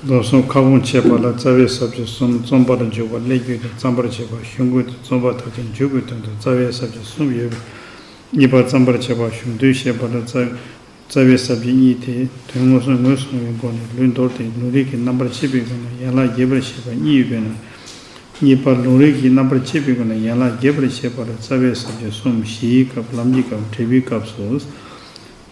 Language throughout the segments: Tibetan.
རྡོ་གསུམ་ཁ་སྐོང་བྱེད་པ་ལ་རྩ་བའི་ཟབ་ཆོས་གསུམ་རྩོམ་པར་འཇུག་པ་སླད་རྒྱུད་དུ་བརྩམ་པར་བྱེད་པ་གཞུང་ཀུན་ཏུ་རྩོམ་པ་དག་གིས་འཇུག་པའི་དོན་དུ་རྩ་བའི་ཟབ་ཆོས་གསུམ་ཡོད་པས་གཉིས་པ་བརྩམ་པར་བྱེད་པ་གཞུང་དོན་བཤད་པ་ལ་རྩ། རྩ་བའི་ཟབ་ཆོས་གཉིས་དེ་དོན་ངོ་སོ་ངོས་བཟུང་བའི་སྒོ་ནས་ལུས་འདོར་ཏེ་ལུང་རིགས་ཀྱི་རྣམ་པར་ཕྱེ་བའི་སྒོ་ནས་ཡན་ལག་བརྒྱད་པར་བཤད་པ་གཉིས་ཡོད་པས་ན། གཉིས་པ་ལུང་རིགས་ཀྱི་རྣམ་པར་དཔྱད་པའི་སྒོ་ནས་ཡན་ལག་བརྒྱད་པར་བཤད་པར་རྩ་བའི་ཟབ་ཆོས་གསུམ་བཞིའི་སྐབས་ལམ་གྱི་སྐབས་འབྲས་བུའི་སྐབས་སུ།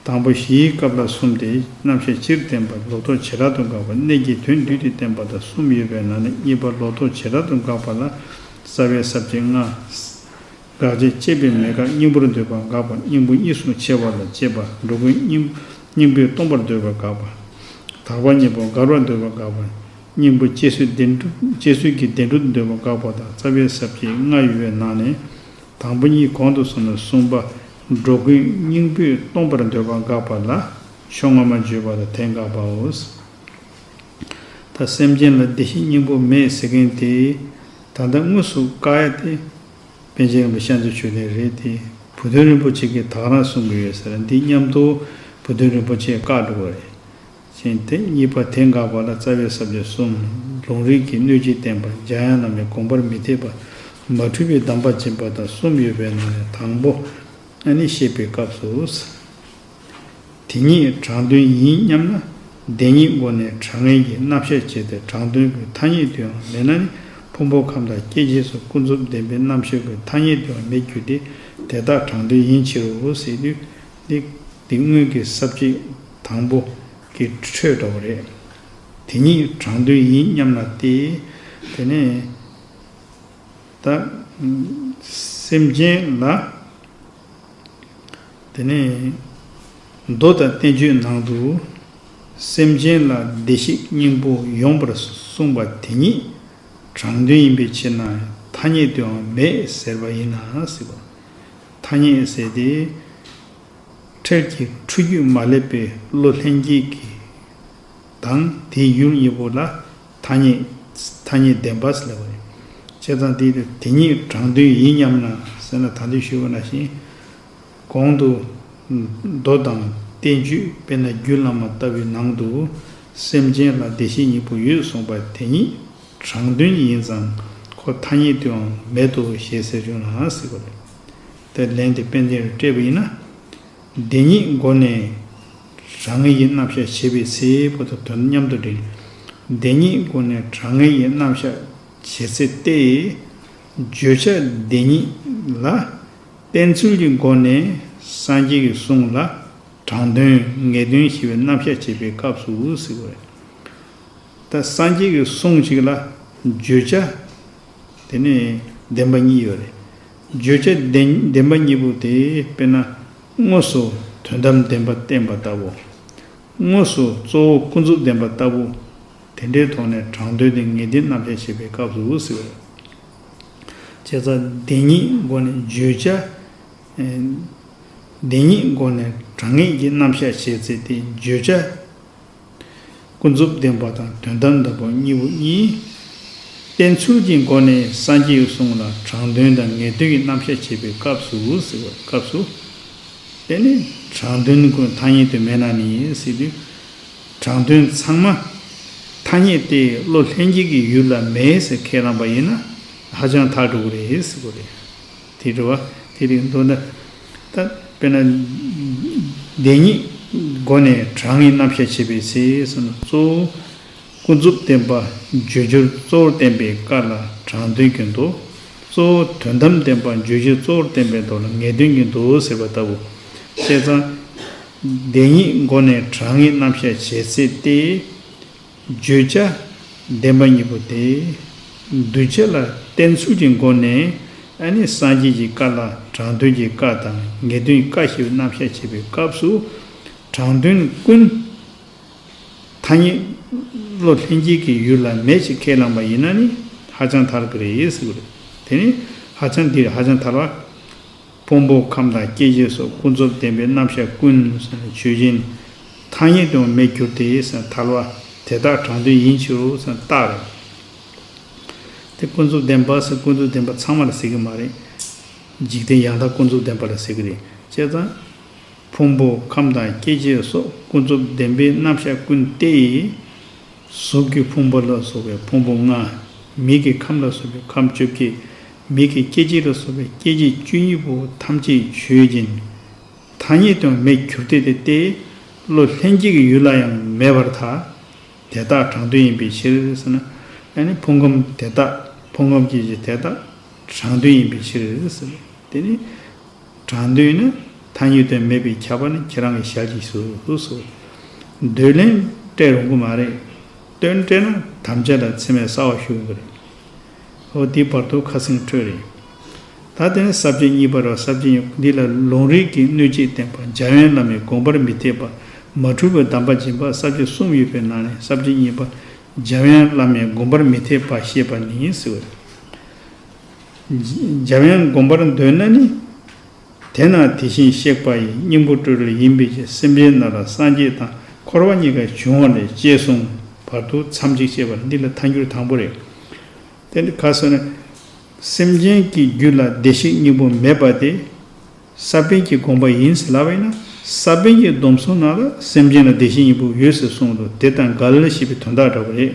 དང་པོ་བཞིའི་སྐབས་ལ་གསུམ་སྟེ་རྣམ་བཤད་སྤྱིར་བསྟན་པ་ལོ་ཐོག་བྱེ་བྲག་ཏུ་འགགས་པ་གནད་ཀྱི་དོན་བསྡུས་ཏེ་བསྟན་པ་དང་གསུམ་ཡོད་པའི་ནང་ནས་གཉིས་པ་ལོ་ཐོག་བྱེ་བྲག་ཏུ་འགགས་པ་ལ་རྩ་བའི་ཟབ་ཆོས་ལྔ། དགག་བྱ་དཔྱད་པའི་མེད་དགག་སྙིང་པོར་འདོད་པ་འགགས་པ་སྙིང་པོ་གཉིས་སུ་ཕྱེ་བ་ལ་དཔྱད་པ་འགྲོ་ཀུན་སྙིང་པོས་སྟོང་པར་འདོད་པ་འགགས་པ། དག་པ་གཉིས་པོ་དགར་བར་འདོད་པ་འགགས་པ། སྙིང་པོ་སྐྱེ་ཚུལ་བདེ་འགྲོ་སྐྱེ་ཚུལ་གྱི་བདེ་འགྲོ་འདོད་པ་འགག་པ་དང་རྩ་བའི་ཟབ་ཁྱད་ལྔ་ཡོད་པའི་ནང་ནས། དང་པོ་གཉིས་གོང་དུ་སོང་ནས་གསུངས་པ། འགྲོ་ཀུན་སྙིང་པོས་སྟོང་པར་འདོད་པ་འགག་པ་ལ། ཕྱོགས་སྔ་མ་བརྗོད་པ་ལ་དེ་འགག་པའོ། ད་སེམས་ཅན་ལ་བདེ་གཤེགས་སྙིང་པོ་མེད་ཟེར་མཁན་དེ། ད་ལྟ་དངོས་སུ་བཀག་ཡ་སྟེ། པན་ཆེན་རིན་པོ་ཤར་མཚོའི་ཆོས་ལས་རེད་དེ། བུ་སྟོན་རིན་པོ་ཆེ་གིས་དག་རང་གསུང་གི་ཡོད་ཟེར་འདི་མཉམ་དུ་བུ་སྟོན་རིན་པོ་ཆེས་བཀག་འགྲོ་གི་རེད། ཅན་ཏེ་གཉིས་པ་དེ་འགགས་པ་ལ་རྩ་བའི་ཟབ་ཆ་གསུམ། ལུང་རིགས་ཀྱི་གནོད་བྱེད་བསྟན་པ་འཇམ་དབྱངས་ལ་མའི་དགོངས་པར་མི་འཐད་པ། མ་འཁྲུལ་པའི་གདམས་པ་སྦྱིན་པ་དང་གསུམ་ཡོད་པའི་ནང་ནས་དང་པོ། ཨ་ནི་བཤད་པའི་སྐབས་སུ། དེ་ཉིད་དྲང་དོན་ཡིན་སྙམ་ན། བདེན་གཉིས་སྒོ་ནས་དྲང་ངེས་ཀྱི་རྣམ་བཤད་བྱས་ཏེ་དྲང་དོན་གྱི་ཐ་སྙད་དུའང་མེད་ན་ནི་ཕུང་པོ་ཁམས་དང་སྐྱེ་མཆེད་སོགས་ཀུན་རྫོབ་བདེན་པའི་རྣམ་བཤད་ཀྱི་ཐ་སྙད་དུའང་མེད་རྒྱུ་སྟེ་དེ་དག་དྲང་དོན་ཡིན་ཕྱིར་རོ། ལེགས། འདི་སྔོན་གྱི་གསབ་བྱེད་དང་པོ་གི་ཁྲོད་དོགས་རེད། དེ་ཉིད་དྲང་དོན་ཡིན་སྙམ་ལ་སྟེ། དེ་ནས། ད། སེམས་ཅན་ལ། དེ་ནས། མདོ་དང་བསྟན་བཅོས་ནང་དུ། སེམས་ཅན་ལ་བདེ་གཤེགས་སྙིང་པོ་ཡོངས་པར་གསུངས་པ་དེ་ཉིད་དྲང་དོན་ཡིན་པའི་ཕྱིར་ན་ཐ་སྙད་དུའང་མེད་ཟེར་བ་ཡིན་ན་སྲིད་པ། ཐ་སྙད་ཟེར་ཏེ། འཕྲལ་གྱི་འཕྲུལ་རྒྱུད་མ་སླེབས་པའི་བློ་ལྷན་སྐྱེས་ཀྱི་དང་དེའི་ཡུལ་གཉིས་པོ་ལ་ཐ་སྙད་ཐ་སྙད་བདེན་པ་སེལ་བ་རེད། བྱས་ཙང་དེ་དང་དེ་གཉིས་དྲང་དོན་ཡིན་སྙམ་ན་ཟེར་ན་ད་དུས་ཞུས་པ་ན་བཞིན། གོང་དུ། མདོ་དང་བསྟན་བཅོས་དཔེར་ན་རྒྱུད་བླ་མ་ལྟ་བུའི་ནང་དུ། སེམས་ཅན་ལ་བདེ་གཤེགས་གཉིས་པོ་ཡོད་གསུངས་པ་དེ་ཉིད། དྲང་བདེན་ཡིན་ཙང་ཁོ་ཐ་སྙད་དུའང་མེད་དོ་ཞེས་ཟེར་རྒྱུ་ནའང་སྲིད་པ་རེད། དེར་ལན་དེ་དཔལ་ལྡན་རུ་སྤྲད་པ་ཡིན་ན། བདེན་གཉིས་སྒོ་ནས་དྲང་ངེས་ཀྱི་རྣམ་གཞག་བྱེད་པའི་ཚེ་བོ་ད་དོན་མཉམ་དུ་འགྲིག། བདེན་གཉིས་སྒོ་ནས་དྲང་ངེས་ཀྱི་རྣམ་གཞག་བྱེད་ཚེ་ཏེ། བརྗོད་བྱ་བདེན་གཉིས་ལ། བསྟན་ཚུལ་གྱི་སྒོ་ནས་སངས་རྒྱས་ཀྱི་གསུང་ལ་དྲང་དོན་ངེས་དོན་ཞེས་པའི་རྣམ་གཞག་བྱེད་པའི་སྐབས་སུ་སྲིད་པ་རེད། ད་སངས་རྒྱས་ཀྱི་གསུང་ཞིག་ལ་བརྗོད་བྱ་དེ་ནི་བདེན་པ་གཉིས་ཡོད་རེད། བརྗོད་བྱ་བདེན་པ་གཉིས་པོ་དེ་དཔེར་ན་དངོས་སུ་དོན་དམ་བདེན་པ་བསྟན་པ་ལྟ་བུ། དངོས་སུ་གཙོ་བོ་ཀུན་རྫོབ་བདེན་པ་ལྟ་བུ། དེ་འདྲའི་ཐོག་ནས་དྲང་དོན་དེ་ངེས་བདེན་རྣམ་བཞག་ཞེས་པའི་སྐབས་སུ་ཟེར་བ་རེད། བྱས་ཙང་བདེན་གཉིས་སྒོ་ནས་བརྗོད་བྱ་བདེན་གཉིས་སྒོ་ནས་དྲང་ངེས་ཀྱི་རྣམ་བཞག་བྱས་ཚེ་དེ་བརྗོད་བྱ། ཀུན་རྫོབ་བདེན་པ་དང་དོན་དམ་དམ་པ་གཉིས་པོ་གཉིས། བསྟན་ཚུལ་གྱི་སྒོ་ནས་སངས་རྒྱས་གསུངས་ལ་དྲང་དོན་དང་ངེས་དོན་གྱི་རྣམ་གཞག་བྱེད་པའི་སྐབས་སུ་ཟེར་བའི་སྐབས་སུ། དེ་ནི་དྲང་དོན་ཀུན་མཐའ་ཉིད་དུ་མེད་ན་ནི་སྲིད་དུས་དྲང་དོན་ཚང་མ་ཐ་སྙད་དེ་བློ་ལྷན་སྐྱེས་ཀྱི་ཡུལ་ལ་མེད་ཟེར་ཁས་བླངས་པ་ཡིན་ན་ཧ་ཅང་ཐག་འགྲོ་གི་རེད་ཟེར་གི་རེད། དེས་འགྲོ་བ་དེ་རིགས་མདོར་ན། ད་དཔེར་ན། བདེན་གཉིས་སྒོ་ནས་གྲངས་ངེས་རྣམ་བཤད་བྱེད་པའི་ཚེ་གསུམ་ལ་གཙོ་བོ། ཀུན་རྫོབ་བསྟན་པ་བརྗོད་རྒྱུར་གཙོ་བོར་བསྟན་པའི་ཀ་ལ་གྲངས་དོན་གྱི་མདོ། གཙོ་བོ་དོན་དམ་བསྟན་པ་བརྗོད་རྒྱུར་གཙོ་བོར་བསྟན་པའི་མདོ་ལ་ངེས་དོན་གྱི་མདོ་ཟེར་བ་ལྟ་བུ། བཤད་ཚང། བདེན་གཉིས་སྒོ་ནས་གྲངས་ངེས་རྣམ་བཤད་བྱེད་ཚེ་སྟེ། བརྗོད་བྱ་བདེན་པ་གཉིས་པོ་དེ། འདུས་བྱས་ལ་བརྟེན་ཚུལ་གྱི་སྒོ་ནས་ནི་སངས་རྒྱས་ཀྱི་བཀའ་ལ་དྲང་དོན་གྱི་བཀའ་དང་ངེས་དོན་གྱི་བཀའ་ཞེས་རྣམ་བཤད་བྱེད་པའི་སྐབས་སུ། དྲང་དོན་ཀུན། ཐ་སྙད། བློ་ལྷན་སྐྱེས་ཀྱི་ཡུལ་ལ་མེད་ཅེས་ཁས་བླངས་པ་ཡིན་ན་ནི་ཧ་ཅང་ཐར་གི་རེད། དེ་ནི་ཧ་ཅང་འདི་ཧ་ཅང་ཐར་བ། ཕུང་པོ་ཁམས་དང་སྐྱེ་མཆེད་སོགས་ཀུན་རྫོབ་བདེན་པའི་རྣམ་གཞག་ཀུན། ཇུས་བཞིན། ཐ་སྙད་དུ་མེད་གྱུར་ཏེ། ཐལ་བ། དེ་དག་དྲང་དོན་ཡིན་ཕྱིར་རོ། རྟགས་རེད། དེ་ཀུན་རྫོབ་བདེན་པ། ཀུན་རྫོབ་བདེན་པ་ཚང་མ་ལ་ཟེར་གི་མ་རེད། འཇིག་རྟེན་ཡང་དག་ཀུན་རྫོབ་བདེན་པ་ལ་ཟེར་གི་རེད། དཔྱད་བཟང། ཕུང་པོ་ཁམས་དང་སྐྱེ་མཆེད་སོགས་ཀུན་རྫོབ་བདེན་པའི་རྣམ་གཞག་ཀུན་ཏེ། གཟུགས་ཀྱི་ཕུང་པོ་ལ་སོགས་པའི་ཕུང་པོ་ལྔ། མིག་གི་ཁམས་ལ་སོགས་པའི་ཁམས་བཅོ་བརྒྱད། མིག་གི་སྐྱེ་མཆེད་ལ་སོགས་པའི་སྐྱེ་མཆེད་བཅུ་གཉིས་པོ་ཐམས་ཅད་ཆོས་ཅན། ཐ་སྙད་དུའང་མེད་གྱུར་ཏེ་དེ་སྟེ། བློ་ལྷན་སྐྱེས་ཀྱི་ཡུལ་ལ་ཡང་མེད་པར་ཐལ། དེ་དག་གྲངས་དོན་ཡིན་པའི་ཕྱིར་ཟེར་ན། ཡང་ནི་ཕུང་ཁམས་དེ་དག་ཕུང་ཁམས་ཀྱི་གཞི་དེ་དག་གྲངས་དོན་ཡིན་པའི་ཕྱིར་ཟེར། དེ་ནི། གྲངས་དོན་ནི་ཐ་སྙད་དུ་མེད་པའི་ཁྱབ་པ་ནི་ཁྱེད་རང་གིས་ཞལ་གྱིས་གཟིགས་སོ། འདོད་ལན་སྤྲད་རུང་གི་མ་རེད། སྟོན་སྤྲད་ན་དམ་བཅའ་དང་ཚིམ་བའི་ས་བ་ཞུ་གི་རེད། ཨོ་དེའི་བར་དོར་ཁ་སེང་ཁྲོད་རེད། ད་དེ་ནི་ཟབ་ཅིང་གཉིས་པ་རོ་ཟབ་ཅིང་འདི་ལ་ལུང་རིགས་ཀྱིས་གནོད་བྱེད་བསྟན་པ་འཇའ་ཡོན་བླ་མའི་དགོངས་པར་མི་འཐད་པ། མ་འཁྲུལ་བའི་གདམས་པ་སྦྱིན་པ་ཟབ་ཅིང་གསུམ་ཡོད་པའི་ནང་ནས་ཟབ་ཅིང་གཉིས་པ་འཇའ་ཡོན་བླ་མའི་དགོངས་པར་མི་འཐད་པ་ཞེས་པ་ནི་ཟེར་བ་རེད། འཇའ་ཡོན་དགོངས་པར་འདོད་ན་ནི། དེས་ན་དེ་བཞིན་གཤེགས་པ་ཡི་སྙིང་པོ་སྤྲོས་བྲལ་ཡིན་པས་ཀྱི་སེམས་ཅན་རྣམས་ལ་སངས་རྒྱས་དང་འཁོར་བ་གཉིས་ཀ་འབྱུང་བ་ལས་སྐྱེས་གསུངས་བར་དུ་མཚམས་གཅིག་བཅད་པར་འདི་ལ་མཐའ་འགྱུར་དང་པོ་རེ་དེ་འདི་ག་སོགས་ནི། སེམས་ཅན་གྱི་རྒྱུད་ལ་བདེ་གཤེགས་སྙིང་པོ་མེད་པ་དེ། ས་པཎ་གྱི་དགོངས་པ་ཡིན་ཟེར་ལབ་བས་ན་ས་པཎ་གྱི་སྡོམ་གསུམ་ནང་ལ་སེམས་ཅན་ལ་བདེ་གཤེགས་སྙིང་པོ་ཡོད་ཟེར་གསུངས་འདུག་དེ་དང་འགལ་ཞེས་པའི་དོན་དག་འདྲ་བོ་རེད།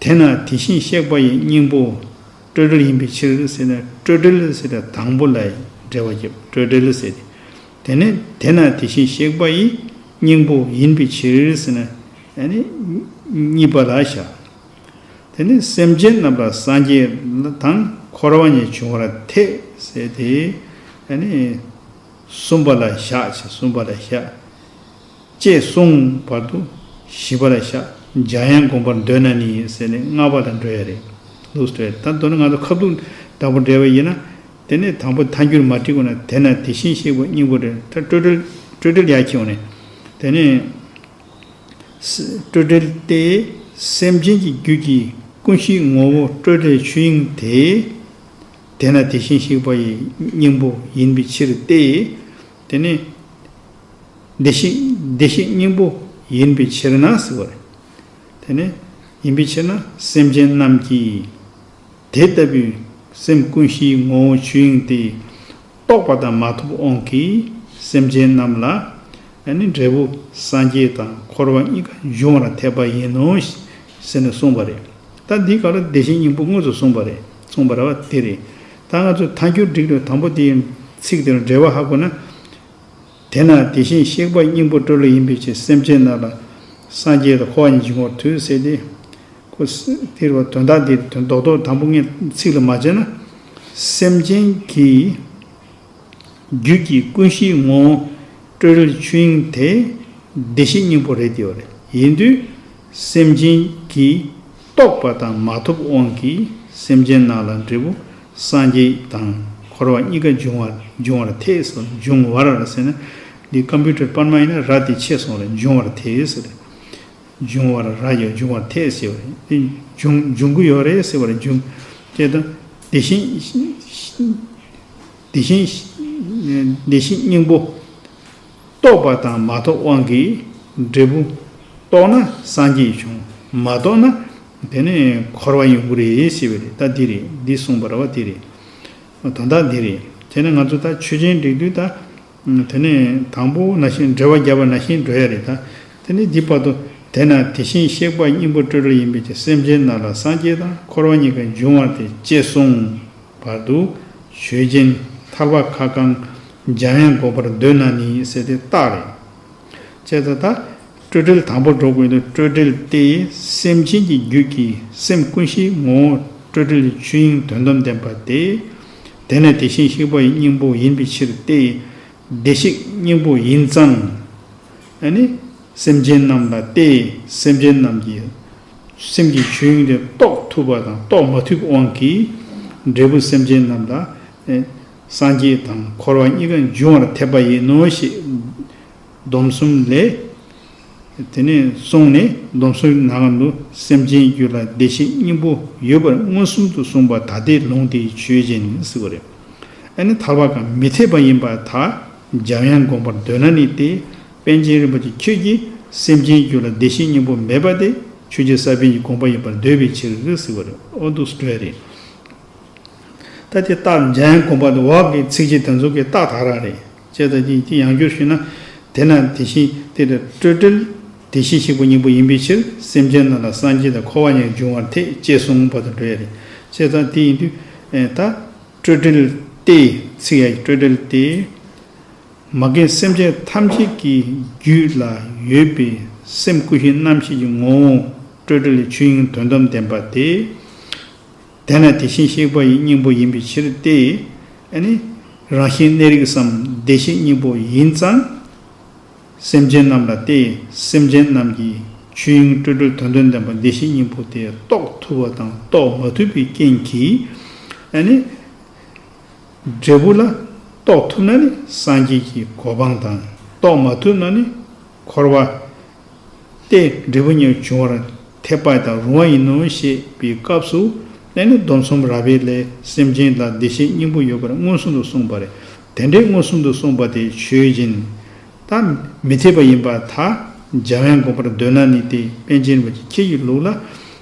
དེས་ན་དེ་བཞིན་གཤེགས་པ་ཡི་སྙིང་པོ། སྤྲོས་བྲལ་ཡིན་པའི་ཕྱིར་ཟེར་ནས་སྤྲོས་བྲལ་ཟེར་བའི་དང་པོ་ལ་འགྲེལ་བ་རྒྱབ་སྤྲོས་བྲལ་ཟེར་ཏེ། དེ་ནས་དེས་ན་དེ་བཞིན་གཤེགས་པ་ཡི་སྙིང་པོ་ཡིན་པའི་ཕྱིར་ཟེར་ནས། གཉིས་པ་ལ་བཞག། དེ་ནས་སེམས་ཅན་རྣམས་ལ་སངས་རྒྱས་དང་འཁོར་བ་ཉིད་འབྱུང་བར་ཐལ། ཟེར་ཏེ། གསུམ་པ་ལ་བཞག་ཅེས་གསུམ་པ་ལ་བཞག། ཅེས་གསུངས། བར་དུ་བཞི་པ་ལ་ཤཱཀྱ་ཡན་བསྒོམ་པར་འདོད་ན་ནི་ཟེར་ནས་ལྔ་པ་དང་འགྲོལ་ཡ་རེད། ལུགས་སུ་སྤྲད། ད་དོན་ང་ཚོ་ཁ་ཐུག་བདག་པོ་འགྲེལ་བ་ཡིན་ན། དེ་ནས་དང་པོ་མཐའ་འགྱུར་མ་བྲིས་གོ་ན་དེ་ན་དེ་བཞིན་གཤེགས་པ་སྙིང་པོ་རེད་ད་སྤྲོས་བྲལ་སྤྲོས་བྲལ་ཡག་ཁྱེའུ་ནས། དེ་ནས། སྤྲོས་བྲལ་ཏེ། སེམས་ཅན་གྱི་རྒྱུད་ཀྱི་ཀུན་གཞིའི་ངོ་བོ་སྤྲོས་བྲལ་ཆོས་དབྱིངས་དེ། དེ་ན་དེ་བཞིན་གཤེགས་པ་ཡི་སྙིང་པོ་ཡིན་པའི་ཕྱིར་ཏེ། དེ་ནས། བདེ་གཤེགས་བདེ་གཤེགས་སྙིང་པོ་ཡིན་པའི་ཕྱིར་ན་ཟེར་བ་རེད། དེ་ནི། ཡིན་པའི་ཕྱིར་ན་སེམས་ཅན་རྣམས་ཀྱིས། དེ་ལྟ་བུའི་སེམས་ཀུན་གཞིའི་ངོ་བོ་ཆོས་དབྱིངས་དེ། རྟོགས་པ་དང་མ་ཐོབ་དབང་གིས་སེམས་ཅན་རྣམས་ལ། འབྲས་བུ་སངས་རྒྱས་དང་འཁོར་བ་གཉིས་ཀ་འབྱུང་བར་ཐལ་པ་ཡིན་ནོ། ཟེར་ནས་གསུངས་པ་རེད། ད་འདིའི་སྐབས་ལ་བདེ་གཤེགས་སྙིང་པོ་དངོས་སུ་གསུངས་པ་རེད་གསུངས་པ་རེད་བ་དེ་རེད། ད་ང་ཚོས་ད་འགྱུར་སྒྲིག་ལོའི་དང་པོ་དེའི་ཚིག་དེར་འགྲེལ་བ་ཧ་གོ་ན། དེས་ན་དེ་བཞིན་གཤེགས་པ་སྙིང་པོ་སྤྲོ་ལུགས་ཡིན་པའི་ཕྱིར་སེམས་ཅན་རྣམས་ལ་སངས་རྒྱས་དང་འཁོར་བ་ཉིད་ཀྱི་ངོར་ཐུགས་སུ་གསལ་ཏེ། དེ་དོན་དག་འདི་དོན་རྡོག་རྡོག་དང་པོ་ལྔའི་ཚིག་ལ་མ་དཔྱད་ན། སེམས་ཅན་གྱི་རྒྱུད་ཀྱི་ཀུན་གཞིའི་ངོ་བོ་སྤྲོ་ལུགས་ཆོས་དབྱིངས་དེ་བདེ་གཤེགས་སྙིང་པོ་རེད་དེ་བ་རེད་ཡིན་དུས། སེམས་ཅན་གྱིས་རྟོགས་པ་དང་མ་ཐོབ་དབང་གིས་སེམས་ཅན་རྣམས་ལ་འབྲས་བུ་སངས་རྒྱས་དང་འཁོར་བ་གཉིས་ཀ་འབྱུང་བ་འབྱུང་བར་ཐལ། འབྱུང་བར་ཟེར་ན་འདི Computer པར་མ་ཡིན་ན་ར་དེ་ཆད་སོང་རེད་འབྱུང་བར་ཐལ་ཟེར། འབྱུང་བར་ར་ཡོད་འབྱུང་བར་ཐལ་ཞེས་པ་ནི་འབྱུང་འབྱུང་གི་ཡོད་རེད་ཟེར་བར་འབྱུང་ཅེས་དང། དེ་བཞིན་དེ་བཞིན་དེ་བཞིན་སྙིང་པོ། རྟོགས་པ་དང་མ་རྟོགས་དབང་གིས་འབྲས་བུ། རྟོགས་ན་སངས་རྒྱས་འབྱུང། མ་རྟོགས་ན། དེ་ནི་འཁོར་བ་ཡོངས་བུ་རེད་ཞེས་པའི་རེད་ད་འདི་རེད་འདི་གསུངས་པར་བ་དེ་རེད། དོན་དག་འདི་རེད་དེ་ནི་ང་ཚོ་ད་ཆོས་ཅན་འགྲིག་དུས་ད། དེ་ནི་དང་པོ་ན་ཤིང་འབྲེལ་བ་བརྒྱ་པ་ན་ཤིང་འགྲོལ་ཡ་རེད་ད་དེ་ནི་འདི་བར་དོ། དེས་ན་དེ་བཞིན་གཤེགས་པ་སྙིང་པོ་སྤྲོས་བྲལ་ཡིན་པས་ཀྱང་སེམས་ཅན་རྣམས་ལ་སངས་རྒྱས་དང་འཁོར་བ་གཉིས་ཀ་འབྱུང་བ་དེ་གཅེས་གསུངས། བར་དུ། ཆོས་ཅན། ཐར་པ་ཁ་བསྐང། འཇམ་དབྱངས་འགོག་པར་འདོད་ན་ནི་ཟེར་ཏེ་རྟགས་རེད། ཅེས་ད་ལྟ། སྤྲོས་བྲལ་དང་པོར་འགྲོ་དགོས་འདུག་སྤྲོས་བྲལ་ཏེ་སེམས་ཅན་གྱི་རྒྱུད་ཀྱི་སེམས་ཀུན་གཞིའི་ངོ་བོ་སྤྲོས་བྲལ་གྱི་ཆོས་དབྱིངས་དོན་དམ་བདེན་པ་སྟེ། དེ་ནི་དེ་བཞིན་གཤེགས་པ་ཡི་སྙིང་པོ་ཡིན་པའི་ཕྱིར་ཏེ། བདེ་གཤེགས་སྙིང་པོ་ཡིན་ཙང། ནི། སེམས་ཅན་རྣམས་ལ་སྟེ་སེམས་ཅན་རྣམས་ཀྱི། སེམས་ཀྱི་ཆོས་དབྱིངས་དེ་རྟོགས་ཐུབ་པ་དང་རྟོགས་མ་ཐུབ་དབང་གིས། འབྲས་བུ་སེམས་ཅན་རྣམས་ལ། སངས་རྒྱས་དང་འཁོར་བ་གཉིས་ཀ་འབྱུང་བར་ཐེབས་པ་ཡིན་ནོ་ཞེས། སྡོམ་གསུམ་ལས། དེ་ནས་བཟུང་ནས་སྡོམ་གསུམ་གྱི་ནང་དུ་སེམས་ཅན་རྒྱུད་ལ་བདེ་གཤེགས་སྙིང་པོ་ཡོད་པར་མངོན་སུམ་དུ་གསུངས་པ་ད་ལྟའི་ལུང་དེའི་ཆོས་ཅན་ནི་སྲིད་པ་རེད། ཨ་ནི་ཐར་བ་གང་མི་འཐད་པ་ཡིན་པ་དག་འཇམ་དབྱངས་དགོངས་པར་འདོད་ན་ནི་སྟེ། པཎ་ཆེན་རིན་པོ་ཆེ་ཁྱོད་ཀྱིས་སེམས་ཅན་རྒྱུད་ལ་བདེ་གཤེགས་སྙིང་པོ་མེད་པ་དེ་ཆོས་རྗེ་ས་པཎ་གྱི་དགོངས་པ་ཡིན་པར་འདོད་པའི་ཕྱིར་རིགས་ཟེར་བ་རེད་ཨོ་འདུག་སྤྲོས་རེད། ད་དེ་རྟགས་འཇའ་ཡང་དགོངས་པ་འདི་འོག་གི་ཚིག་གཅིག་དེ་ཚོ་གི་རྟགས་དག་རག་རེད། ཅེས་དང་ཅིང་གཅིག་ཡང་བསྒྱུར་ཞུས་ན། དེ་ན་དེ་བཞིན་ཏེ་དེ་སྤྲོས་བྲལ། བདེ་གཤེགས་གཤེགས་པ་སྙིང་པོ་ཡིན་པའི་ཕྱིར་སེམས་ཅན་རྣམས་ལ་སངས་རྒྱས་དང་འཁོར་བ་ཉིད་འབྱུང་བར་ཐེག་ཅེས་གསུངས་པ་དང་འདྲ་བས་རེད། ཅེས་དང་དེ་ཡིན་དུས། ད། སྤྲོས་བྲལ་ཏེ། ཚིག་ཡག་གི་སྤྲོས་བྲལ་ཏེ། མ་རྒན་སེམས་ཅན་ཐམས་ཅད་ཀྱི་རྒྱུད་ལ་ཡོད་པའི་སེམས་སྐུ་བཞི་རྣམ་ཤེས་ཀྱི་ངོ་བོ་སྤྲོས་བྲལ་ལས་ཆོས་དབྱིངས་དོན་དམ་བདེན་པ་སྟེ། དེ་ནི་དེ་བཞིན་གཤེགས་པ་ཡི་སྙིང་པོ་ཡིན་པའི་ཕྱིར་ཏེ། རང་བཞིན་གནས་རིགས་སམ་བདེ་གཤེགས་སྙིང་པོ་ཡིན་ཙང། སེམས་ཅན་རྣམས་ལ་སྟེ་སེམས་ཅན་རྣམས་ཀྱི་ཆོས་དབྱིངས་སྤྲོས་བྲལ་དོན་དོན་ལྡན་པ་བདེ་གཤེགས་སྙིང་པོ་དེ་རྟོགས་ཐུབ་པ་དང་རྟོགས་མ་ཐུབ་པའི་རྐྱེན་གྱིས། འབྲས་བུ་ལ། རྟོགས་ཐུབ་ན་ནི་སངས་རྒྱས་ཀྱི་གོ་འཕང་དང། རྟོགས་མ་ཐུབ་ན་ནི། འཁོར་བ། སྟེ། འབྲས་བུ་གཉིས་འབྱུང་བར་ཐལ། པ་དང་རུང་བ་ཡིན་ནོ་ཞེས་པའི་སྐབས་སུ། ནས་ནི་སྡོམ་གསུམ་རགས་པའི་ལས་སེམས་ཅན་ལ་བདེ་གཤེགས་སྙིང་པོ་ཡོད་པར་མངོན་སུམ་དུ་གསུངས་པ་རེད། དེ་འདྲའི་མངོན་སུམ་དུ་གསུངས་པ་དེ་ཆོས་སྦྱིན། ད་མི་ཐེག་པ་ཡིན་པ་ད་རྒྱ་བན་དགོངས་པར་འདོད་ན་ནི་དེ་པན་ཆེན་རིན་པོ་ཆེ་ཁྱེད་ཀྱི་ལུགས་ལ་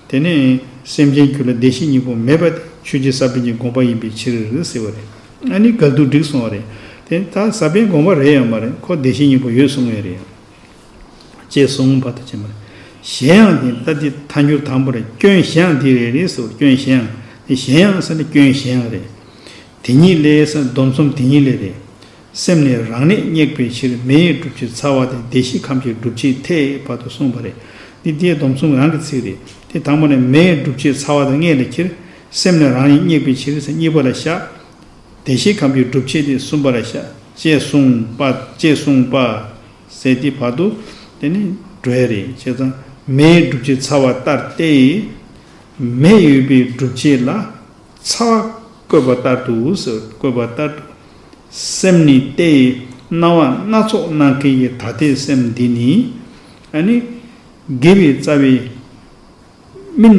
དེ་ནས་སེམས་ཅན་རྒྱུད་ལ་བདེ་གཤེགས་སྙིང་པོ་མེད་པ་དེ་ཆོས་རྗེ་ས་པན་གྱི་དགོངས་པ་ཡིན་པའི་ཕྱིར་ཟེར་བ་རེད་ཨ་ནི་དགག་སྡུག་འགྲིག་སོང་བ་རེད་དེ་ད་ས་པན་དགོངས་པ་རེད་ཡང་མ་རེད་ཁོ་བདེ་གཤེགས་སྙིང་པོ་ཡོད་གསུང་ངེས་རེད་ཅེས་གསུང་བར་དུ་བྱས་མ་གཞན་ཡང་དེ་ལྟ་དེ་ཐ་འགྱུར་དང་པོ་རེད་སྐྱོན་གཞན་ཡང་དེ་རེད་རེད་ཟེར་བ་སྐྱོན་གཞན་ཡང་དེ་གཞན་ཡང་ཟེར་ན་སྐྱོན་གཞན་ཡང་རེད་དེ་ཉིད་ལས་ཟེར་ན་སྡོམ་གསུམ་དེ་ཉིད་ལས་རེད། སེམས་ནི་རང་གནས་བསྙེགས་པའི་ཕྱིར་མེ་ཡི་སྒྲུབ་བྱེད་ཚ་བ་དེ་བདེ་གཤེགས་ཁམས་ཀྱི་སྒྲུབ་བྱེད་མཐའི་བར་དུ་གསུངས་པ་རེད། འདི་བརྒྱད་སྡོམ་གསུམ་རང་གི་ཚིག་རེད་དེ། དང་པོ་ནི་མེ་ཡི་སྒྲུབ་བྱེད་ཚ་བ་དེ་ལྔས་ལས་ཁྱེར། སེམས་ནི་རང་ཡིན་བསྙེགས་པའི་ཕྱིར་ཚེ་གཉིས་པ་ལ་བཞག། བདེ་གཤེགས་ཁམས་ཀྱི་སྒྲུབ་བྱེད་དེ་གསུམ་པ་ལ་བཞག། ཅེས་གསུངས་པ། ཅེས་གསུངས་པ། ཟེར་དེའི་བར་དུ། དེ་ནི་སྒྲོལ་བ་རེད། ཅེས་དང། མེ་ཡི་སྒྲུབ་བྱེད་ཚ་བ་ལྟར་ཏེ། མེ་ཡོད་པའི་སྒྲུབ་བྱེད་ལ། ཚ་བསྐོལ་བ་ལྟར་དུ་འུ་སུ་བསྐོལ་བ་ལྟར་དུ། སེམས་ནི་ཏེ། སྣང་བ་སྣ་ཚོགས་སྣང་མཁན་གྱི་ཐ་དད་སེམས་འདི་ནི། ཨ་ནི། དགེ་བའི་རྩ་བའི། སྨིན།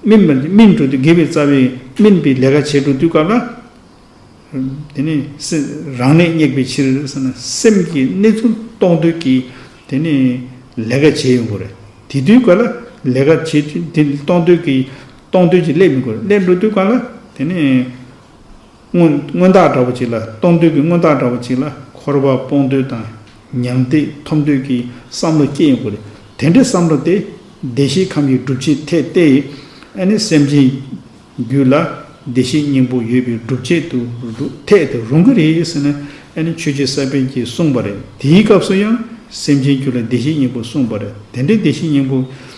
སྨིན་པ་སྨིན་གྲོལ་དུ་དགེ་བའི་རྩ་བའི་སྨིན་པའི་ལས་ཀ་བྱེད་འགྲོ་དུས་སྐབས་ལ། དེ་ནི། རང་གནས་བསྙེགས་པའི་ཕྱིར་ཟེར་ན་སེམས་ཀྱི་གནས་ཚུལ་རྟོགས་འདོད་ཀྱིས་དེ་ནི། ལས་ཀ་བྱེད་ཡོང་གི་རེད། དེ་དུས་སྐབས་ལ་ལས་ཀ་བྱེད་དུས་དེ་རྟོགས་འདོད་ཀྱིས། གཏོང་འདོད་ཀྱིས་སླེབས་མི་དགོས། སླེབས་འགྲོ་དུས་དཀའ་ལ། དེ་ནས། མངོན་རྟགས་འདྲ་བོ་ཅིག་ལ། གཏོང་འདོད་ཀྱི་མངོན་རྟགས་འདྲ་བོ་ཅིག་ལ། འཁོར་བ་སྤོང་འདོད་དང། མྱང་འདས་ཐོབ་འདོད་ཀྱི་བསམ་བློ་སྐྱེ་ཡོང་གི་རེད། དེ་འདྲའི་བསམ་བློ་དེ། བདེ་གཤེགས་ཁམས་ཀྱི་སྒྲུབ་བྱེད་ཐད་གཏད་ཡིན། ཨ་ནི་སེམས་ཅན། རྒྱུད་ལ། བདེ་གཤེགས་སྙིང་པོ་ཡོད་པའི་སྒྲུབ་བྱེད་དུ། ཐད་དེ་རུང་གི་རེད་ཟེར་ན། ཨ་ནི་ཆོས་རྗེ་ས་པཎ་གྱིས་གསུངས་པ་རེད། དེའི་སྐབས་སུ་ཡང། སེམས་ཅན་རྒྱུད་ལ་བདེ་གཤེགས་སྙིང་པོ་གསུངས་པ་རེད། དེ་འདྲའི་བདེ་གཤེགས་སྙིང་པོ།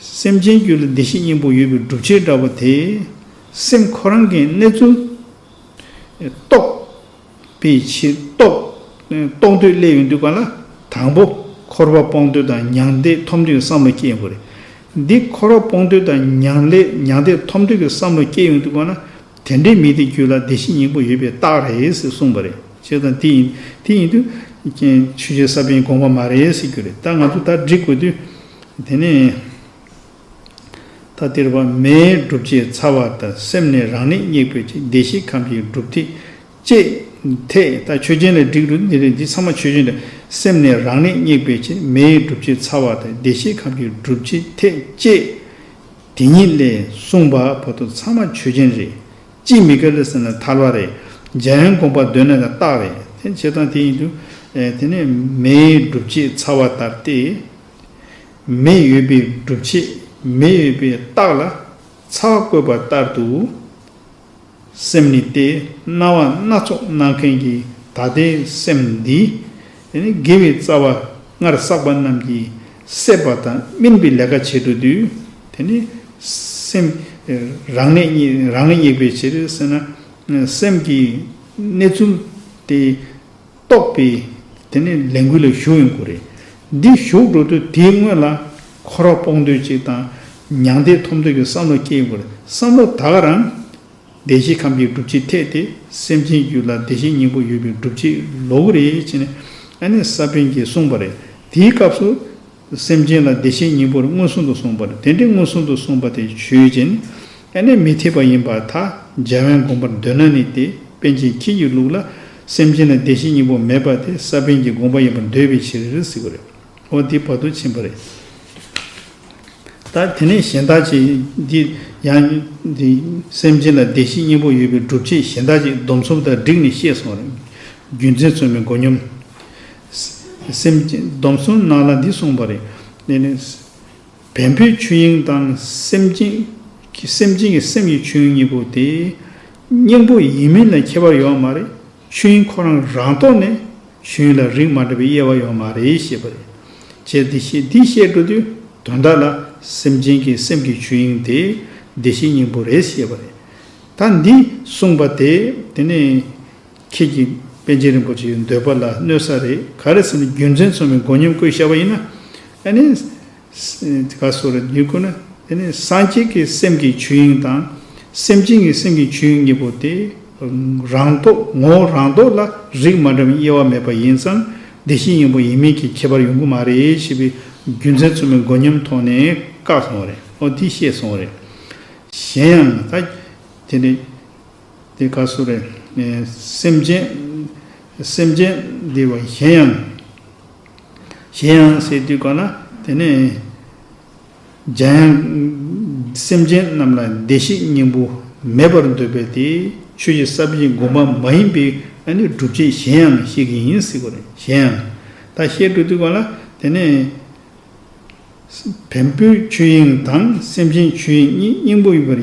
སེམས་ཅན་རྒྱུད་ལ་བདེ་གཤེགས་སྙིང་པོ་ཡོད་པའི་སྒྲུབ་བྱེད་འདྲ་བ་དེས། སེམས་ཁོ་རང་གི་གནས་ཚུལ། རྟོགས། པའི་ཕྱིར། རྟོགས། འདོད་སླད་ཡོང་དུས་ག་ལ། དང་པོ། འཁོར་བ་སྤོང་འདོད་དང་མྱང་འདས་ཐོབ་འདོད་ཀྱི་བསམ་བློ་སྐྱེ་ཡོང་གི་རེད། འདི་འཁོར་བ་སྤོང་འདོད་དང་མྱང། མྱང་འདས་ཐོབ་འདོད་ཀྱི་བསམ་བློ་སྐྱེ་ཡོང་དུས་ག་ལ། དེ་འདྲའི་མི་དེ་རྒྱུད་ལ་བདེ་གཤེགས་སྙིང་པོ་ཡོད་པའི་རྟགས་རེད་ཟེར་གསུངས་པ་རེད། ཅེས་དང་དེ་ཡིན། དེ་ཡིན་དུས། ཆོས་རྗེ་ས་པཎ་གྱིས་དགོངས་པ་མ་རེད་ཟེར་རྒྱུ་རེད། ད་ང་ཚོས་ད་འབྲི་དགོས་དུས། དེ་ནས་ཐ་དིར་བ་མའི་སྒྲུབ་བྱེད་ཚ་བ་དང་སེམས་ནི་རང་གནས་སྙེགས་པའི་ཕྱིར་བདེ་གཤེགས་ཁམས་ཀྱི་སྒྲུབ་ཐིག་ཅེས་ཐད་ལྟ་ཆོས་ཅན་ལ་བསྒྲིགས་འདུག་འདི་རིགས་འདི་ཚང་མ་ཆོས་ཅན་རེད། སེམས་ནི་རང་གནས་སྙེགས་པའི་ཕྱིར་མའི་སྒྲུབ་བྱེད་ཚ་བ་དང་བདེ་གཤེགས་ཁམས་ཀྱི་སྒྲུབ་བྱེད་ཐེག་བཅས་དེ་ཉིད་ལས་གསུངས་པ་བར་དུ་ཚང་མ་ཆོས་ཅན་རེད། ཅིས་མི་དགེ་ལས་ཟིན་ལ་ཐར་བ་རེད། འཇལ་ཡང་དགོངས་པ་གདོད་ནས་ལ་རྟགས་རེད། དེ་ནི་བྱེད་སྟངས་དེ་ཡིན། དེ་ནི་མེའི་སྒྲུབ་བྱེད་ཚ་བ་ལྟར་ཏེ། མེ་ཡོད་པའི་སྒྲུབ་བྱེད་མེ་ཡོད་པའི་རྟགས་ལ་ཚ་བ་བཀོད་པ་ལྟར་དུ། སེམས་ནི་སྟེ་སྣང་བ་སྣ་ཚོགས་སྣང་མཁན་གྱི་ད་ལྟའི་སེམས་འདི། དེ་ནས་དགེ་བའི་རྩ་བ་སྔར་བསགས་པ་རྣམས་ཀྱིས་སད་པ་དང་སྨིན་པའི་ལས་ཀ་བྱེད་དུ་འདུས། དེ་ནི། སེམས། རང་ལས། རང་ལས་སྙེག་པའི་ཕྱིར་སེར་སྣ། སེམས་ཀྱི། གནས་ཚུལ། དེ། རྟོགས་པས། དེ་ནི་ལས་འགུལ་ལ་ཞུགས་ཡོང་དགོས་རེད། འདི་ཞུགས་འགྲོ་དུས་དེའི་སྔོན་ལ། ཁོ་ར་སྤོག་འདོད་ཅིག་དང། མྱང་འདས་ཐོབ་འདོད་ཀྱི་བསམ་བློ་སྐྱེ་ཡོང་དགོས་རེད་བསམ་བློ་དག་རང། བདེ་གཤེགས་ཁམས་ཀྱི་སྒྲུབ་བྱེད་འཐད་དེ་སེམས་ཅན་རྒྱུད་ལ་བདེ་གཤེགས་སྙིང་པོ་ཡོད་པའི་སྒྲུབ་བྱེད་ལོ་གུ་རེ་བྱས་ནས་ཨ་ནེ་ས་པན་གྱིས་གསུངས་པ་རེད། དེའི་སྐབས་སུ། སེམས་ཅན་ལ་བདེ་གཤེགས་སྙིང་པོར་མངོན་སུམ་དུ་གསུངས་པ་རེད། དེ་འདྲའི་མངོན་སུམ་དུ་གསུངས་པ་དེ་ཆོས་ཅན། ཨ་ནེ་མི་འཐད་པ་ཡིན་པ་ཐ་འཇལ་བན་དགོངས་པར་འདོད་ན་ནི་དེ་པན་ཆེན་ཁྱེད་ཀྱི་ལུགས་ལ་སེམས་ཅན་ལ་བདེ་གཤེགས་སྙིང་པོ་མེད་པ་དེ་ས་པན་གྱི་དགོངས་པ་ཡིན་པར་འདོད་པའི་ཕྱིར་ཟེར་གྱི་རེད། འོ་འདི་བར་དུ་ཕྱིན་པ་རེད། ད་དེ་ནས་གཞན་དག་ཅིག་འདི་ཡང་འདི་སེམས་ཅན་ལ་བདེ་གཤེགས་སྙིང་པོ་ཡོད་པའི་སྒྲུབ་བྱེད་གཞན་དག་ཅིག་སྡོམ་གསུམ་དང་བསྒྲིགས་ནས་ཤེས་སོང་རེད། རྒྱུ་མཚན་ཚོད་མེད་མགོ་སྙོམ། སེམས་ཅན་སྡོམ་གསུམ་སྣང་ལ་འདི་གསུངས་པ་རེད། བན་བོན་ཆོས་དབྱིངས་དང་སེམས་ཅན་གྱི་སེམས་ཀྱི་སེམས་ཀྱི་ཆོས་དབྱིངས་གཉིས་པོ་དེ། སྙིང་པོ་ཡིན་མིན་ལ་ཁྱད་པར་ཡོད་བ་མ་རེད། ཆོས་དབྱིངས་ཁོ་རང་རང་རྟོགས་ནས་གཞོན་ཡིན་ལ་རིགས་མ་འདྲ་བའི་དབྱེ་བ་ཡོང་མ་རེད་ཤེས་པ་རེད། བྱས་འདི་ཤེས་འདི་ཤེས་འགྲོ་དུས་དོན་དག་ལ་སེམས་ཅན་གྱི་སེམས་ཀྱི་ཆོས་དབྱིངས་དེ་བདེ་གཤེགས་སྙིང་པོ་རེད་ཤེས་པ་རེད། ད་འདི་གསུངས་པ་དེ་དེ་ནས་ཁྱེད་ཀྱི་པན་ཆེན་རིན་པོ་ཆེའི་འདོད་པ་ལ་གནོད་ས་རེད་ག་རེ་ཟེར་ན་རྒྱུ་མཚན་ཚོམ་བའི་མགོ་མཉམ་བཀོད་ཤར་བ་ཡིན་ན། བཀའ་སྩོལ། དེ་ཁོ་ན་དེ་ནི་སངས་རྒྱས་ཀྱི་སེམས་ཀྱི་ཆོས་དབྱིངས་དང། སེམས་ཅན་གྱི་སེམས་ཀྱི་ཆོས་དབྱིངས་གཉིས་པོ་དེ། རང་རྟོག་ངོ་བོ་རང་རྟོག་ལ་རིགས་མ་འདྲ་བའི་དབྱེ་བ་མེད་པ་ཡིན་ཙང་བདེ་གཤེགས་སྙིང་པོ་ཡིན་མིན་གྱི་ཁྱད་པར་ཡོང་གི་མ་རེད་ཞེས་པའི་རྒྱུ་མཚན་རྩོམ་པའི་མགོ་མཉམ་ཐོག་ནས་བཀག་སོང་བ་རེད། ཨོ་དེ་ཤེས་སོང་བ་རེད། གཞན་ཡང་ད། དེ་ནི། དེ་བཀའ་སྩོལ། སེམས་ཅན། སེམས་ཅན། འདི་བ་གཞན་ཡང། གཞན་ཡང་ཟེར་དུས་གོ་ན་དེ་ནི། འཇམ་དབྱངས་སེམས་ཅན་རྣམས་ལ་བདེ་གཤེགས་སྙིང་པོ་མེད་པར་འདོད་པས་དེ་ཆོས་ཀྱི་ས་བཞིན་དགོངས་པ་མ་ཡིན་པའི་སྒྲུབ་བྱེད་གཞན་ཡང་བཤད་ཀྱི་ཡིན་སྲིད་གོ། གཞན་ཡང། ད་བཤད་འགྲོ་དུས་གོ་ན་དེ་ནི། བེམ་པོའི་ཆོས་དབྱིངས་དང་སེམས་ཅན་ཆོས་དབྱིངས་གཉིས་སྙིང་པོ་ཡིན་པར་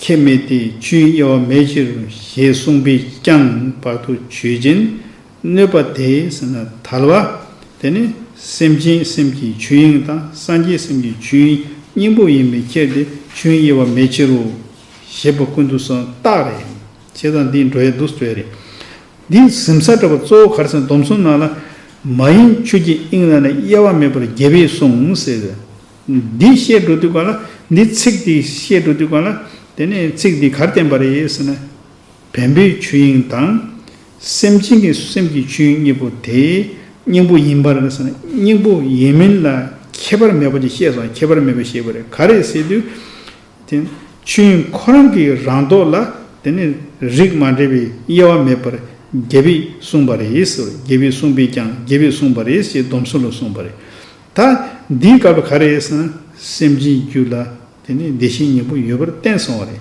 ཁྱད་མེད་དེ་ཆོས་དབྱིངས་དབྱེ་བ་མེད་ཕྱིར་ཞེས་གསུངས་པས་ཀྱང་བར་དུ་ཆོས་ཅན། གནོད་པ་དེ་ཟེར་ན་དལ་བ། དེ་ནི་སེམས་ཅན་སེམས་ཀྱི་ཆོས་དབྱིངས་དང་སངས་རྒྱས་སེམས་ཀྱི་ཆོས་དབྱིངས་སྙིང་པོ་ཡིན་པའི་ཕྱིར་ཏེ་ཆོས་དབྱེ་བ་མེད་ཕྱིར་རོ། ཞེས་པ་ཀུན་ཏུ་སོང་རྟགས་རེད། བྱས་ཙང་འདིས་འགྲོ་ཡ་འདུག་ཟོས་རེད། འདིས་གཟིམས་ས་བྲལ་བ་གཙོ་བོ་གར་ཟེར་སྡོམ་གསུམ་ནང་ལ་མ་ཡིན་ཆོས་ཀྱི་དབྱིངས་ལ་ནི་དབྱེ་བ་མེད་པར་རྒྱལ་བས་གསུངས་ཟེར། འདི་བཤད་འགྲོ་དུས་གང་ལ་འདི་ཚིག་འདི་བཤད་འགྲོ་དུས་གང་ལ་དེ་ནི་ཚིག་འདི་གར་བསྟན་པ་རེད་ཟེར་ན་བེམ་པོའི་ཆོས་དབྱིངས་དང། སེམས་ཅན་གྱི་སེམས་ཀྱི་ཆོས་གཉིས་པོ་དེ་སྙིང་པོ་ཡིན་པར་སྙིང་པོ་ཡིན་མིན་ལ་ཁྱད་པར་མེད་པ་ཅིག་ཤེས་སམ་ཁྱད་པར་མེད་པ་ཤེས་པ་རེད་ག་རེ་ཟེར་དུས། དེ་ཆོས་དབྱིངས་ཁོ་རང་གི་རང་མདོག་ལ་དེ་ནི་རིགས་མ་འདྲེས་པའི་དབྱེ་བ་མེད་པར་རྒྱལ་བས་གསུངས་པ་རེད་ཟེར་བ་རྒྱལ་བས་གསུངས་པས་ཀྱང་རྒྱལ་བས་གསུངས་པ་རེད་ཅེས་སྡོམ་གསུམ་ལ་གསུངས་པ་རེད། ད་འདིའི་སྐབས་ག་རེ་ཟེར་ན་སེམས་ཅན་རྒྱུད་ལ་དེ་ནི་བདེ་གཤེགས་སྙིང་པོ་ཡོད་པར་བསྟན་སོང་བ་རེད།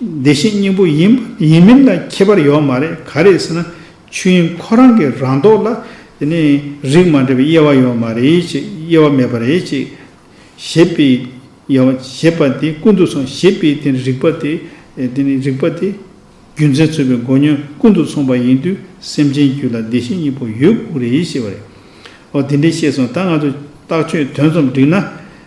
བདེ་གཤེགས་སྙིང་པོ་ཡིན་པ་ཡིན་མིན་ལ་ཁྱད་པར་ཡོད་མ་རེད་ག་རེད་ཟེར་ན་ཆོས་དབྱིངས་ཁོ་རང་གི་རང་མདོག་ལ་དེ་ནས་རིགས་མ་འདྲེས་པའི་དབྱེ་བ་ཡོད་མ་རེད་ཅེས་དབྱེ་བ་མེད་པ་རེད་ཅེས་བཞེད་པའི་དབྱེ་བ་བྱེད་པ་དེ་ཀུན་ཏུ་སོང་ཞེས་པའི་དེ་ནས་རིགས་པ་དེ་དེ་ནས་རིགས་པ་དེ་རྒྱུ་མཚན་རྩོད་པའི་མགོ་བསྙོན་ཀུན་ཏུ་སོང་པ་ཡིན་དུས་སེམས་ཅན་རྒྱུད་ལ་བདེ་གཤེགས་སྙིང་པོ་ཡོད་དགོས་རེད་ཞེས་པ་རེད། འོ་དེ་འདྲས་ཤེས་སོང་ད་ང་ཚོས་ལྟག་ཆོད་དོན་ཙམ་བསྒྲིགས་ན།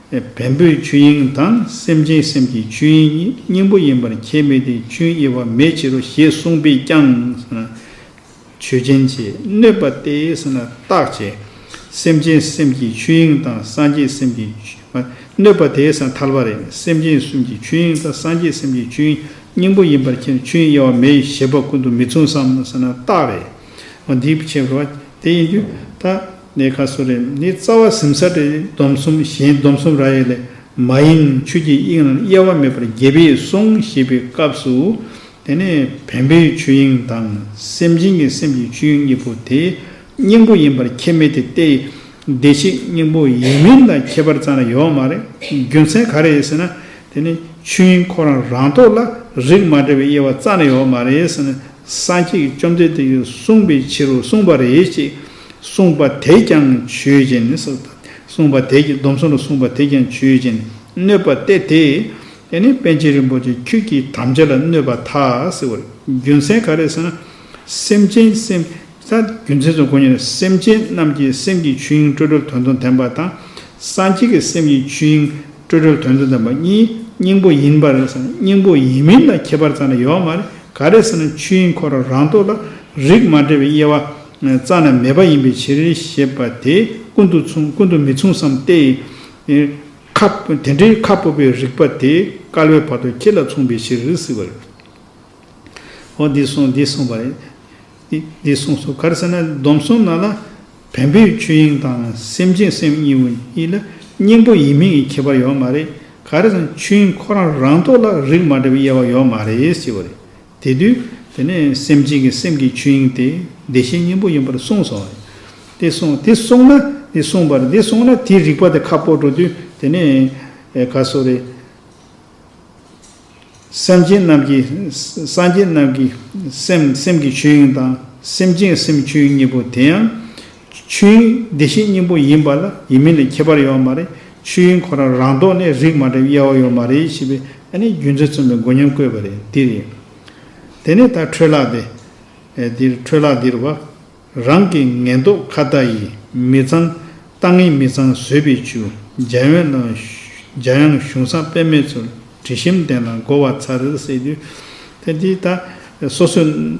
བེམ་པོའི་ཆོས་དབྱིངས་དང་སེམས་ཅན་སེམས་ཀྱི་ཆོས་དབྱིངས་གཉིས་སྙིང་པོ་ཡིན་པར་ཁྱད་མེད་དེ་ཆུའི་དབྱེ་བ་མེད་ཕྱིར་རོ་ཞེས་གསུངས་པས་ཀྱང། ཆོས་ཅན་ཅེས་གནོད་པ་སྟེ་རྟག་ཅེས། སེམས་ཅན་སེམས་ཀྱི་ཆོས་དབྱིངས་དང་སངས་རྒྱས་སེམས་ཀྱི། གནོད་པ་དེས་ཐལ་བ་རེད་སེམས་ཅན་སེམས་ཀྱི་ཆོས་དབྱིངས་དང་སངས་རྒྱས་སེམས་ཀྱི་ཆོས་དབྱིངས་སྙིང་པོ་ཡིན་པར་ཁྱེར་ཆུའི་དབྱེ་བ་མེད་ཞེས་པ་ཀུན་ཏུ་མི་མཚུངས་སམ། རྟག་རེད། འདིའི་ཕྱིར་རོ། དེ་ཡིན་དུས། ནས་ཁ་སུ་རེ་ནི་རྩ་བ་གཟིམ་ས་ཏེ་སྡོམ་གསུམ་གཞན་སྡོམ་གསུམ་ར་ཡིག་ལས་མ་ཡིན་ཆོས་ཀྱི་དབྱིངས་རྣམས་དབྱེ་བ་མེད་པར་རྒྱལ་བས་གསུངས་ཞེས་པའི་སྐབས་སུ། དེ་ནས་བེམ་པོའི་ཆོས་དབྱིངས་དང་སེམས་ཅན་གྱི་སེམས་ཀྱི་ཆོས་གཉིས་པོ་དེ་སྙིང་པོ་ཡིན་པར་ཁྱད་མེད་དེ་སྟེ། བདེ་གཤེགས་སྙིང་པོ་ཡིན་མིན་ལ་ཁྱད་པར་ཙམ་ལས་ཡོད་མ་རེད། རྒྱུ་མཚན་ག་རེད་ཟེར་ན། དེ་ནི་ཆོས་དབྱིངས་ཁོ་རང་རང་ཐོག་ལ་རིགས་མ་འདྲ་བའི་དབྱེ་བ་ཙམ་ལས་ཡོད་མ་རེད། སངས་རྒྱས་བཅོམ་ལྡན་འདས་ཀྱིས་གསུངས་པའི་ཕྱིར་རོ་གསུངས་པ་རེད་ཅེས་གསུངས་པ་དེས་ཀྱང་ཆོས་ཅན་ནི་སོགས་དང། གསུངས་པ་དེས་ཀྱང་སྡོམ་གསུམ་རུ་གསུངས་པ་དེས་ཀྱང་ཆོས་ཅན་ནི་གནོད་པ་སྟེ་དེ་ནི་དཔལ་ཆེན་རིན་པོ་ཆེ་ཁྱོད་ཀྱིས་དམ་བཅའ་ལ་གནོད་པ་ཐ་སི་བར་རྒྱུ་མཚན་ག་རེ་ཟེར་ན། སེམས་ཅན་སེམས་ས་རྒྱུ་མཚན་ཚོ་གོ་ཉན་ན་སེམས་ཅན་རྣམས་ཀྱི་སེམས་ཀྱི་ཆོས་དབྱིངས་སྤྲོས་བྲལ་དོན་དུ་ལྡན་པ་དང། སངས་རྒྱས་ཀྱི་སེམས་ཀྱི་ཆོས་དབྱིངས་སྤྲོས་བྲལ་དོན་དུ་ལྡན་པ་གཉིས་སྙིང་པོ་ཡིན་པ་རེད་ཟེར་ན་སྙིང་པོ་ཡིན་མིན་ལ་ཁྱད་པར་ཙམ་ལས་ཡོད་མ་རེད་ག་རེ་ཟེར་ན་ཆོས་དབྱིངས་ཁོ་རང་རང་རྟོགས་ལ་རིགས་མ་འདྲེས་པའི་དབྱེ་བ་རྩ་ནས་མེད་པ་ཡིན་པའི་ཕྱིར་ཞེས་པ་དེ་ཀུན་ཏུ་མཚུངས་ཀུན་ཏུ་མི་མཚུངས་སམ་སྟེ། ཁ། དེ་འདྲའི་ཁ་སྤོབས་པའི་རིགས་པ་དེ་སྐལ་བའི་བར་དུ་ཁྱེད་ལ་མཚུངས་པའི་ཕྱིར་རིགས་སྲིད་པ་རེད། འོ་འདི་གསུངས་འདི་གསུངས་པ་རེད། འདི་གསུངས་སོ་ག་རེ་ཟེར་ན་སྡོམ་གསུམ་ནང་ལ་བེམ་པོའི་ཆོས་དབྱིངས་དང་སེམས་ཅན་སེམས་གཉིས་པོ་གཉིས་ལ་སྙིང་པོ་ཡིན་མིན་གྱི་ཁྱད་པར་ཡོད་མ་རེད། ག་རེ་ཟེར་ན་ཆོས་དབྱིངས་ཁོ་རང་རང་ཐོག་ལ་རིགས་མ་འདྲ་བའི་དབྱེ་བ་ཡོད་མ་རེད་ཅེས་པ་རེད། དེ་དུས་དེ་ནས་སེམས་ཅན་གྱི་སེམས་ཀྱི་ཆོས་དབྱིངས་དེ་བདེ་གཤེགས་སྙིང་པོ་ཡིན་པར་གསུངས་སོ། དེ་གསུངས་དེ་གསུངས་ན་དེ་གསུངས་པར་དེ་གསུངས་ན་དེའི་རིགས་པ་དེ་ཁ་སྤོ་འགྲོ་དུས་དེ་ནས་ག་སོ་རེད། སེམས་ཅན་རྣམས་ཀྱི་སངས་རྒྱས་རྣམས་ཀྱི་སེམས་སེམས་ཀྱི་ཆོས་དབྱིངས་དང་སེམས་ཅན་གྱི་སེམས་ཆོས་དབྱིངས་གཉིས་པོ་དེ་ཡང། ཆོས་དབྱིངས་བདེ་གཤེགས་སྙིང་པོ་ཡིན་པ་ལ་ཡིན་མིན་ལས་ཁྱད་པར་ཡོད་མ་རེད་ཆོས་དབྱིངས་ཁོ་རང་རང་ལྡོག་ནས་རིགས་མ་འདྲེས་དབྱེ་བ་ཡོད་མ་རེད་ཞེས་པའི་ཨ་ནེ་རྒྱུ་མཚན་མཚོན་པའི་མགོ་ཉམས་བཀོད་པ་རེད་འདི་རེད། དེ་ནས་ད་འཕྲོས་ལགས་ཏེ། འདིར་འཕྲོས་ལགས་འདིར་བ། རང་གི་ངན་རྟོག་ཁ་ལྟ་ཡིས་མི་ཚང། ལྟ་ངན་མི་ཚང་བཟོད་པའི་ཆུ། འཇའ་ཡོན་ལ། འཇའ་ཡང་གཞུང་བསྲང་དཔེ་མེད་ཚུལ། དྲི་ཞིམ་ལྡན་ལ་བསྒོ་བ་ཚར་རེར་བསྲེགས་དུས། དེ་འདི་ད། སོ་སོའི།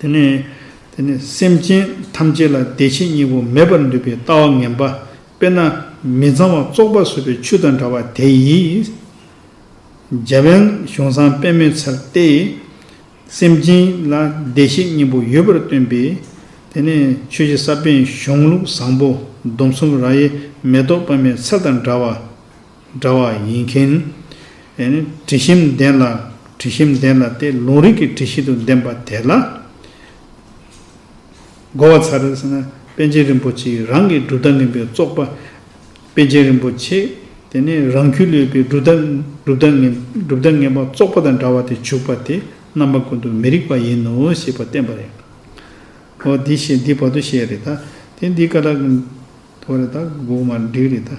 དེ་ནས་དེ་ནི་སེམས་ཅན་ཐམས་ཅད་ལ་བདེ་ཆེན་སྙིང་པོ་མེད་པར་འདུས་པའི་ལྟ་བ་ངན་པ་དཔེར་ན་མི་གཙང་བ་བཙོག་པ་ཟོས་པའི་ཆུ་དང་འདྲ་བ་དེ་ཡིས། རྒྱལ་བའི་གཞུང་བཟང་དཔེ་མེད་ཚལ་ཏེ། སེམས་ཅན་ལ་བདེ་ཆེན་སྙིང་པོ་ཡོད་པར་སྟོན་པས། དེ་ནས་ཆོས་རྗེ་ས་པཎ་གཞུང་ལུགས་བཟང་པོ་སྡོམ་གསུམ་ར་ཡི་མེ་ཏོག་སྤར་མའི་ཚལ་དང་འདྲ་བ། འདྲ་བ་ཡིན་མཁན། དྲི་ཞིམ་ལྡན་ལ་དྲི་ཞིམ་ལྡན་ལ་སྟེ་ལུང་རིགས་ཀྱི་དྲི་བཞིན་དུ་ལྡན་པ་དེ་ལ་གོ་བ་ཚར་ཟེར་ན་པཎ་ཆེན་རིན་པོ་ཆེ་ཡིས་རང་གི་གྲུབ་མཐའ་ངན་པའི་བཙོག་པ་པཎ་ཆེན་རིན་པོ་ཆེ་དེ་ནི་རང་ཁྱུ་ལུས་པའི་གྲུབ་མཐའ་ངན་པ་བཙོག་པ་དང་འདྲ་བ་དེ་བྱུགས་པ་དེ་རྣམ་པ་ཀུན་ཏུ་མི་རིགས་པ་ཡིན་ནོ་ཞེས་པ་བསྟན་པ་རེད། ཨོ་འདི་བར་དུ་བཤད་རེད་ད། དེ་འདི་ཀ་ལ་དོ་རེད་ད་དགོངས་མ་འགྲིག་རེད་ད།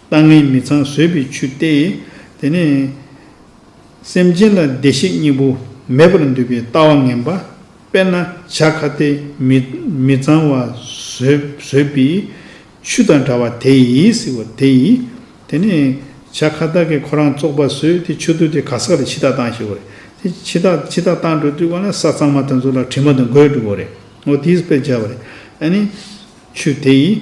ལྟ་ངན་མི་ཚང་བཟོད་པའི་ཆུ་སྟེ། དེ་ནས། སེམས་ཅན་ལ་བདེ་གཤེགས་སྙིང་པོ་མེད་པར་འདུད་པའི་ལྟ་བ་ངན་པ། དཔེར་ན་བྱ་ཁ་སྟེ་མི། མི་ཚང་བ་བཟོད་པའི་ཆུ་དང་འདྲ་བ་དེ་ཡིས་ཟེར་བ་དེ་ཡིས། དེ་ནས། བྱ་ཁ་བདག་གིས་ཁོ་རང་བཙོག་པ་བཟོས་ཏེ་ཆུ་བཏུལ་ཏེ་ག་ས་ལ་འཆི་བདག་བཏང་ཞེས་བ་རེད། དེ་འཆི་བདག་འཆི་བདག་བཏང་འགྲོ་དུས་གང་ན་ས་གཙང་མ་དེ་ཚོ་ལ་དྲི་མ་དང་གོས་བྲུབ་བ་རེད། འོ་དེས་དཔེར་བྱས་བ་རེད། ཨ་ནི། ཆུ་དེ་ཡིས།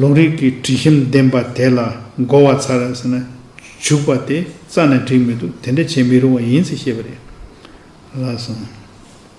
ལུང་རིགས་ཀྱི་དྲི་ཞིམ་ལྡན་པ་དེ་ལ་བསྒོ་བ་ཚར་རེ་ཟེར་ན་བྱུག་པ་དེ་རྩ་ནས་འགྲིག་མི་འདུག་དེ་འདྲ་བྱེད་མི་རུང་བ་ཡིན་ཚེ་ཤེས་པ་རེད་ལགས་སམ།